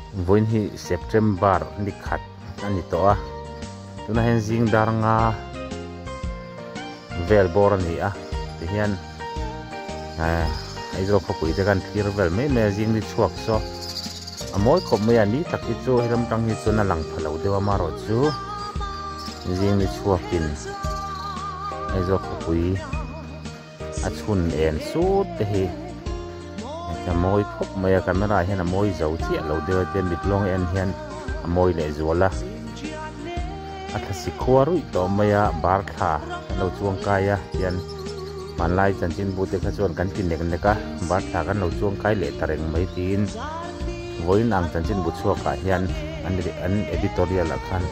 Vawiin hi September ni khat a ni tawh a, tuna hian zingdar nga vel bawr a ni a, tihian Aizawl khawpui te kan thlir vel mai mai a, zing ni chhuak saw a mawi khawp mai a, ni tak hi chu hi ram tang hi chuan a lang tha lo deuh a, amaherawh chu zing ni chhuakin Aizawl khawpui. A chhun en sut te hi a mawi khawp mai a, camera hian a mawi zo chiah lo deuh a, Dammit Lawng en hian a mawi leh zual a, a thla si khua ruih tawh mai a, bar thla kan lo chuang kai a tian hmanlai chanchinbute kha chuan kan ti nek nek a, bar thla kan lo chuang kai leh ta reng mai tiin vawiin ang chanchinbu chhuakah hian an editorial ah khan.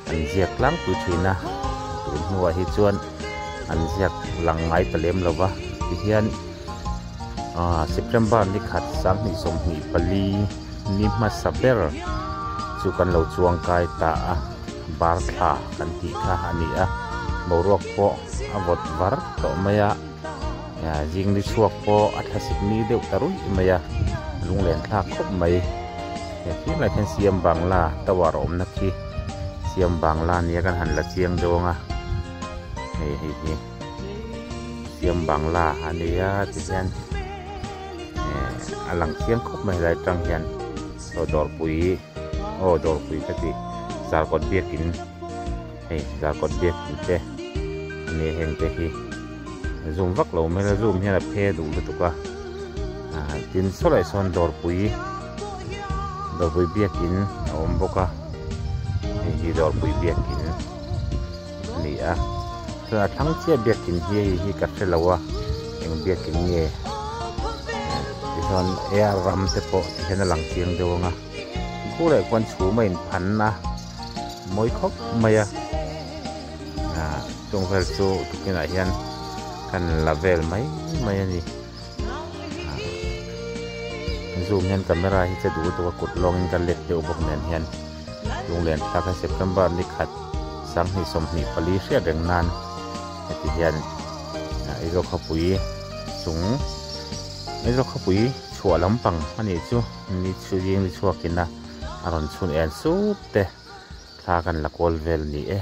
an ziak tlangpui thin a, tun hnuah hi chuan an ziak lang ngai ta lem lo va, tihian September ni khat sang hnih sawmhnih pali ni hmasa ber chu kan lo chuang kai ta a, bar thla kan tih kha a ni a, boruak pawh a vawt var tawh mai a. Zingni chhuak pawh a thlasik ni deuh ta ruih mai a, lunglenthlak khawp mai. Hei khing lai khan siam bangla tower awmna khi siam bangla nia kan han la chiang dawng a. Hei hei hi siam bangla a nia tihian a lang chiang khawp mai helai atang hian aw dawrpui aw dawrpui ka tih zarkawt biakin. Hei zakawt biak tih te a nih heng te hi a zum vak lo mai a zum hian a phe duh lutuk a ah tin saw laih sawn dawrpui dawrpui biak in a awm bawk a hei hi dawrpui biak in a ni a chuan a thlang chiah biak in hi hei hi ka hre lo a eng biak in nge tichuan eng ram te pawh tihian a lang chiang deuh ang a khua leh khuan chhum a in phan a. Mawi khawp mai a, chung vel chu tukin ah hian kan la vel mai mai a ni, zoom hian camera hi che duh duh a kut lawng in ka let deuh bawk nen hian Lunglen thlak hi September ni khat sang hnih sawmhnih pali hriat reng nan heti hian Aizawl khawpui chung Aizawl khawpui chhuah lampang a nih chu ni chhungzing ni chhuak in a a rawn chhun el sup te thla kan la kawl vel ni e.